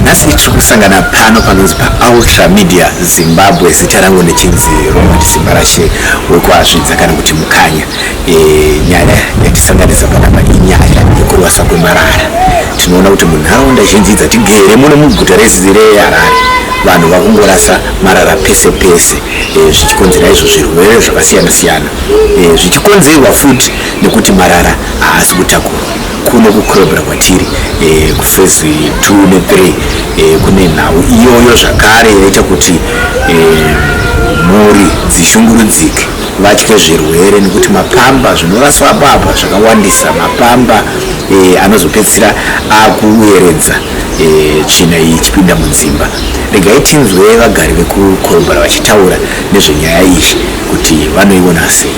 nhasi tiri kusangana pano panonzi paultra media zimbabwe zita rangu ndichinzi robert simbarashe wekuazvidza kana kuti mukanya e, nyaya yatisanganisa panapa inyaya yekurwasa kwemarara tinoona kuti munharaunda zhinji dzatigere muno muguta rezireharare vanhu vakungorasa marara pese pese e, zvichikonzera izvo zvirwere zvakasiyana siyana e, zvichikonzerwa futi nekuti marara haasi kutakurwa kuno kucrobra kwatiri eh, kufezi 2 ne3 eh, kune nhau iyoyo zvakare yaita kuti eh, mhuri dzishungurudzike vatye zvirwere nekuti mapamba zvinoraswa baba zvakawandisa mapamba eh, anozopedzisira akueredza eh, tsvina iyi ichipinda mudzimba regai tinzwe vagari vekucrobra vachitaura nezvenyaya iyi kuti vanoiona sei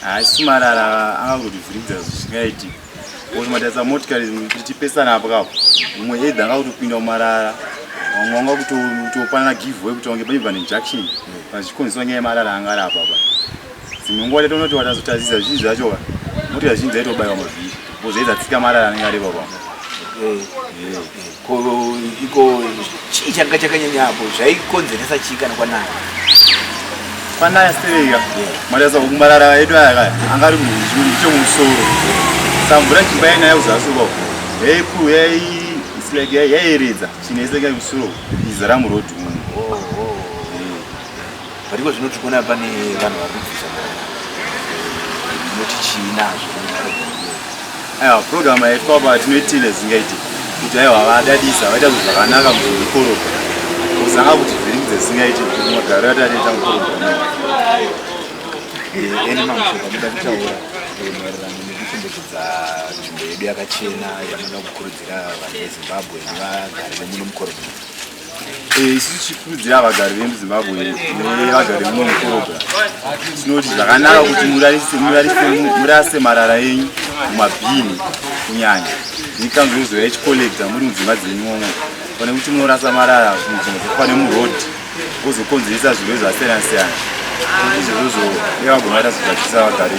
haasi marara angangotivhiridza zvisingaiti kuti matarisa motikari kuti tipesana apo kapo mumwe edha angakutopinda mumarara vamwe vanga kutopanana giveaway kuti vange paibva nejunction pazvikonziswa nyaya yemarara anga ari apa pa dzimwe nguva tatonoti watazotazisa zvii zvacho ka motikari zhinji dzaitobaiwa mavhiri bozaizatsika marara anenge ari papapo eh, eh, eh. Ko iko chii changa chakanyanya apo zvaikonzeresa chii kana kwanaya? Kwanaya stereka. Mwari asa kumarara edu aya kaya. Anga ari munhu chemusoro. Samvura chimba yainaya kuzasi uko. Hey crew, hey it's like yaiyeredza. Chinese kaya musoro. Izara muroad umu. Oh, oh. but iko zvino tiri kuona pane vanhu vari kubvisa inoti chii nazvo aiwa program yaitwa apa tinoitile zingaiti kuti aiwa vadadisa vaita zvinhu zvakanaka muzvikoropa kuzanga kuti zviringi dzesingaiti magaro ati atoita mukoropa eh, ene mamushoka muda kutaura maererano nekuchengetedza nzvimbo yedu yakachena yanoda kukurudzira vanhu vezimbabwe nevagari vemuno mukoropa Eh, isu tichikurudzira vagari vemuzimbabwe nevagari muno mukorobha tinoti zvakanaka kuti murase marara enyu mumabhini kunyanya nekanzo yozoya ichikolekta muri mudzimba dzenyuomo pane kuti munorasa marara munzvimbo dzekufane muroad ozokonzeresa zvirwere zvasiyana siyana izvozvo evagomata zvigadzisa vagari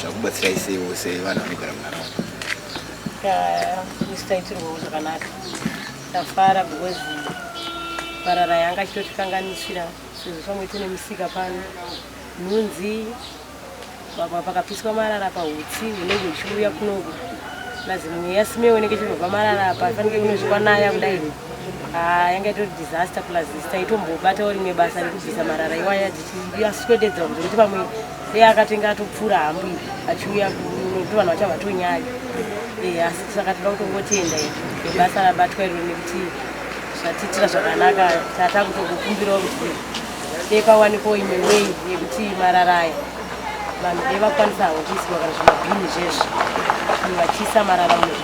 zvakubatsira isei vose vanhu vanogara munharaunda isitaitirwawo zvakanaka tafara because marara yanga achitotikanganisira sezvo pamwe tine musika pano nhunzi pamwe pakapiswa marara pahutsi hunenge huchiuya kunoku nazi mweya simewo inenge ichirova marara apa fanike kunozvikwa naya kudai ah, yanga itori disaster plus taitombobatawo rimwe basa rekubvisa marara iwaya tichiaswededza kuti pamwe Iye akatenga atopfura hambwi achiuya kunoto vanhu vachava tonyaya eh, asi saka toda kutongotenda basa rabatwa iro nekuti zvatiitira zvakanaka tata kutokukumbirawo kuti dei pawanikwo imwe wei yekuti mararaya vanhu dei vakwanisawo kuisirwa kana zvimabhini zvesvo vachiisa marara muzvi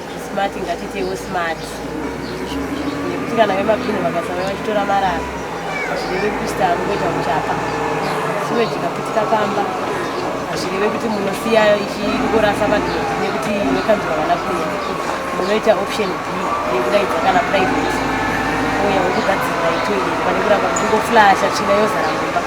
smart ngatitewo smart nekuti kana vemabhini vakasava vachitora marara hazvireve kuti taangoita muchapa sure tikaputika pamba hazvireve kuti munosiya ichingorasa madhoti nekuti vekanzwa vana kuya munoita option b yekudaidza kana private uya wekugadzirira itoilet pane kuramba kungoflasha tsvina yozara mumba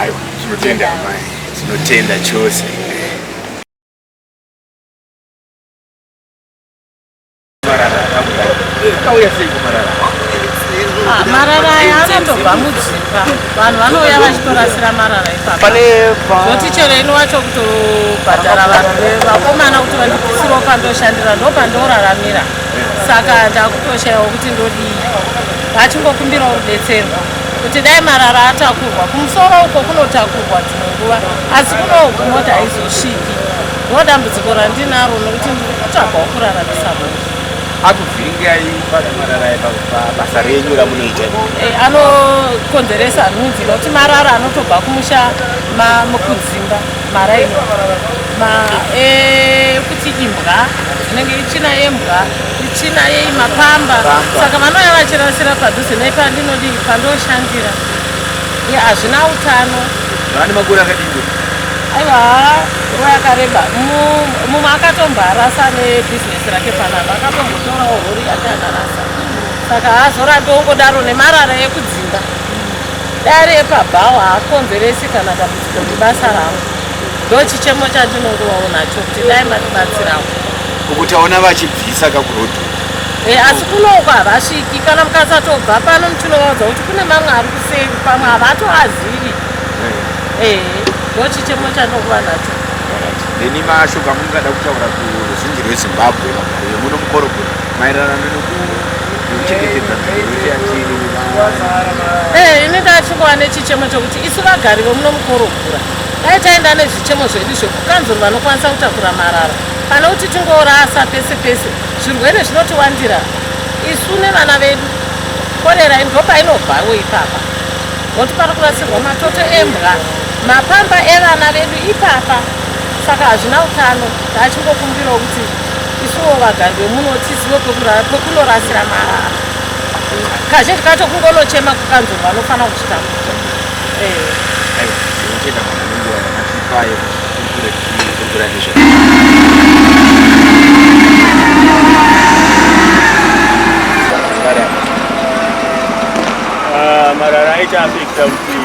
Aiwa, tinotenda amai, tinotenda chose. Kauya sei kumarara? Ah, marara aya anotobva mudzimba vanhu vanouya vachitorasira marara ipapa zoti chero ini wacho kutobhadhara vanhu vevakomana kuti vandibvisirewo pandoshandira ndopandooraramira saka ndakutoshayawo kuti ndodii vachingokumbirawo rubetserwa kuti dai marara atakurwa kumusoro uko kunotakurwa dzimwe nguva asi kunoku mota haizosviki ndo dambudziko randinaro nokuti ndiri kutsvagwa wokuraramisa mhuri akuvhiringai basa renyu ramunoita eh, anokonzeresa nhunzi nokuti marara anotobva kumusha mukudzimba maraini ma ekuti eh, imbwa dzinenge ichina yembwa ichina yei mapamba saka vanouya vachirasira padhuze nei pandinodii pandoshandira ye hazvina utano vane makore akadii aiwa nguva yakareba mumwe akatomboarasa nebhizinesi rake panapa akatombotorawo hori yake akarasa saka hazorambi wongodaro nemarara ekudzimba dare epabhawa haakonzeresi kana dambudziko ndibasa ravo ndochichemo chandinongovawo nacho kuti dai matibatsirawo ukuti aona vachibvisa kakurodhu e, eh, asi kunoko havasviki kana mukasatobva pano ndichinovaudza kuti kune mamwe ari kuseri pamwe havatoazivi ehe eh, ndochichemo chandinonguva nacho neni mashoko amungada kutaura kuruzhinji rwezimbabwe magariro muno mukorogoro maererano nekuchengetedza nzirocheyatiri eh, ini ndachingova nechichemo chokuti isu vagari vemuno mukorogura dai taenda nezvichemo zvedu zvekukanzuru vanokwanisa kutakura marara pane kuti tingorasa pese pese zvirwere zvinotiwandira isu nevana vedu korera ndo painobvawo ipapa nokuti pari kurasirwa matoto embwa mapamba evana vedu ipapa saka hazvina utano taachingokumbirawo kuti isuwo vagari vemuno tizive pekurara pekunorasira marara kazhinji kacho kungonochema kukanzuru vanofanira kuchitambudza ah, marara aita afekta kuti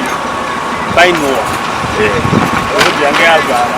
painowa eh. road yange yazara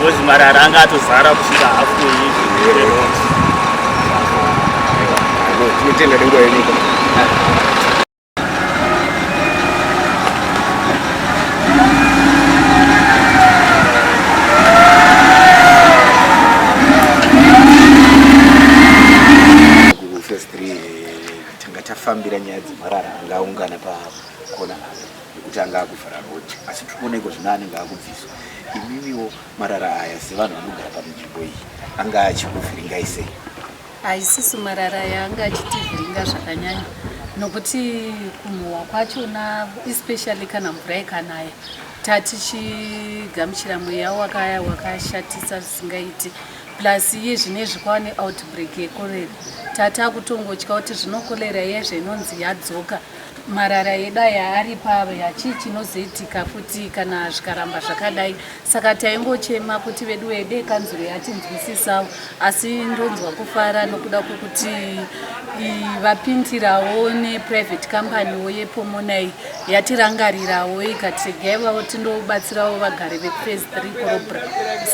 Ngozi marara anga atozara kusvika hafu yeizvirwere roti. Tinotenda nenguva yenyika. Tanga tafambira nyaya dzemarara angaungana pakona apa. nekuti anga akuvhara road asi tiri kuona iko zvino anenge akubviswa imimiwo marara aya sevanhu vanogara pamunzvimbo iyi anga achikuvhiringai sei haisisu marara aya anga achitivhiringa zvakanyanya nokuti kumhuwa kwachona especially kana mvura ikanaya tatichigamuchira mweya wakaya wakashatisa zvisingaiti plus iye zvine zvikwane outbreak yekorera tati akutongotya kuti zvinokorera iye zvainonzi yadzoka marara edu aya ari pave hachii chinozoitika futi kana zvikaramba zvakadai saka taingochema kuti vedu wede kanzuro yatinzwisisawo asi ndonzwa kufara nokuda kwokuti vapindirawo neprivate companywo yepomonai yatirangarirawo ikati regai vavo tindobatsirawo vagari vepres three corobra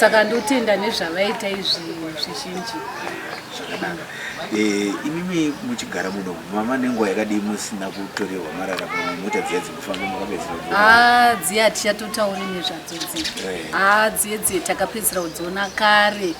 saka ndotenda nezvavaita izvi zvizhinji Zvakanaka. Eh, imimi muchigara muno mama nenguva yakadii musina kutorerwa marara pamwe mota dziya dzekufamba makapedzera kudziona? haa Ah, dziye hatichatotauri nezvadzo dziye Eh. haa dziye dziye takapedzera kudziona kare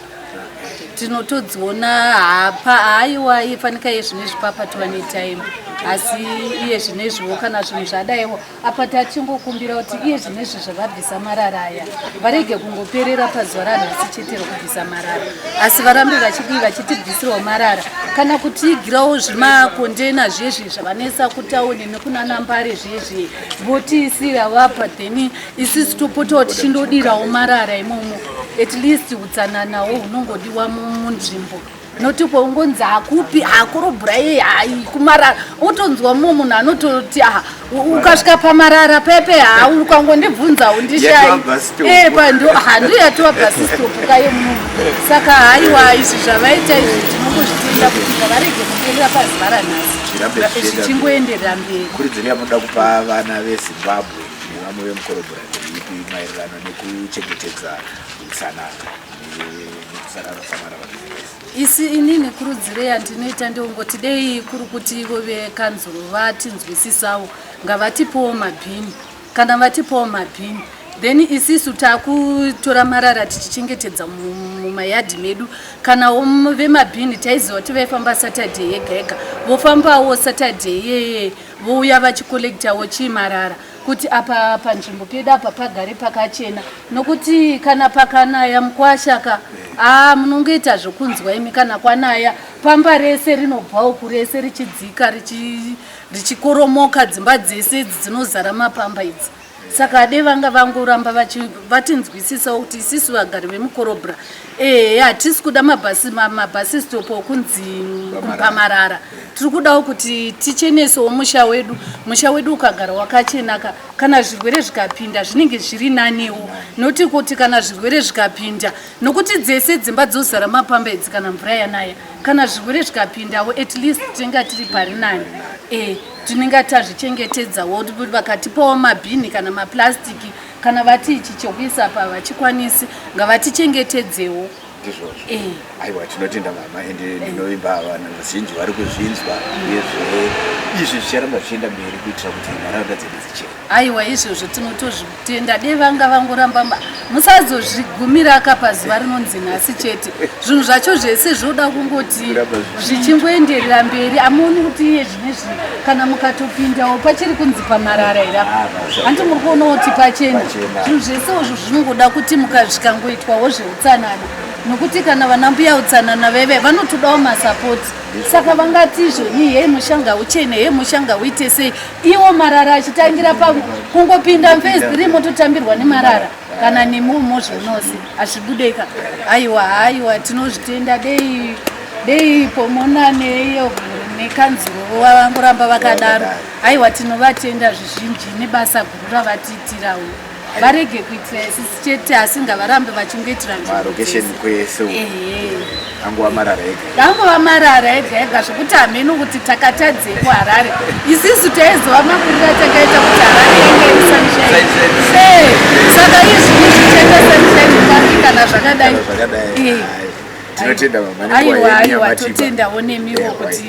tinotodziona hapa haiwa ifanika iye zvinezvi papa tova netime asi iye zvinezviwo kana zvinhu zvadaiwo apa tachingokumbira kuti iye zvinezvi zvavabvisa marara aya varege kungoperera pazuva ranhasi chete rokubvisa marara asi varambe vachidii vachitibvisirawo marara kana kutiigirawo zvimakondena zviye zviye zvavanesa kutauni nekunana mbare zviye zviye votiisira vapa then isisi topotawo tichindodirawo marara imomo at least utsananawo hunongodiwa munzvimbo mu, noti kwaungonzi hakupi hakorobhura yei hai kumarara wotonzwa mumwe munhu anototi aha ukasvika pamarara pepe haa ukangondibvunza undishayi e pando handiyo yatova bhasistopu kaye munhu saka haiwa izvi zvavaita izvi tinongozvitenda kuti ngavarege kuenderera pazuva ranhasi zvichingoenderera mberi kuridziro yamunoda kupa vana vezimbabwe nevamwe vemukorobhura ndeipi maererano nekuchengetedza utsanana isi ini nekurudziro yandinoita ndongoti dei kuri kuti ivo vekanzuro vatinzwisisawo ngavatipowo mabhini kana vatipowo mabhini then isisu takutora marara tichichengetedza mumayadhi medu kana vemabhini taiziva kuti vaifamba saturday yega yega vofambawo saturday yeye vouya vachikolektawo chii marara kuti apa panzvimbo pedu apa pagare pakachena nokuti kana pakanaya mukwasha ka aa munongoita zvokunzwa imi kana kwanaya pamba rese rinobva uku rese richidzika richi- richikoromoka dzimba dzese idzi dzinozara mapamba idzi saka ade vanga vangoramba vachi- vatinzwisisawo kuti isisu vagari vemukorobra ehe hatisi kuda mabhasi mabhasi stop okunzi pamarara tiri kudawo kuti tichenesewo musha wedu musha wedu ukagara wakachenaka kana zvirwere zvikapinda zvinenge zviri naniwo noti kuti kana zvirwere zvikapinda nokuti dzese dzimba dzozara mapamba idzi kana mvura yanaya kana zvirwere zvikapindawo at least tinenge tiri pari nani e tinenge tazvichengetedzawo vakatipawo mabhini kana maplastiki kana vati ichi chokuisa apa vachikwanisi ngavatichengetedzewo ndizvozvo eh. aiwa tinotenda mama and eh. ndinovimba vanhu vazhinji vari kuzvinzwa nezve izvi zvicharamba zvichienda mberi kuitira kuti nharaunda dzedu dzichena aiwa izvozvo tinotozvitenda de vanga vangoramba musazozvigumira aka pazuva rinonzi nhasi chete zvinhu zvacho zvese zvoda kungoti zvichingoenderera mberi amuoni kuti iye kana mukatopindawo pachiri kunzi pamarara ira ah, hanti muri kuonawo kuti pachena zvinhu zvese izvo zvinongoda kuti mukazvikangoitwawo zveutsanana nokuti kana vana mbuya utsanana veve vanotodawo masapoti saka vangati izvo ni hei mushanga uchene hei mushanga uite sei iwo marara achitangira pa kungopinda mfes three mototambirwa nemarara kana nemi mozvonose hazvibudeka aiwa haiwa tinozvitenda dei dei pomonaneiyo nekanzuro vangoramba vakadaro aiwa tinovatenda zvizhinji nebasa guru ravatiitirawo varege kuitira isisi chete asi ngavarambe vachingoitira nzvimbo dzese angova marara ega angova marara ega ega zvekuti hameno kuti takatadzei kuharare isisu taiziva makuriro atakaita kuti harare yange iri sunshine saka izvi izvitenda sunshine pari kana zvakadai tinotenda aiwa aiwa totendawo nemiwo kuti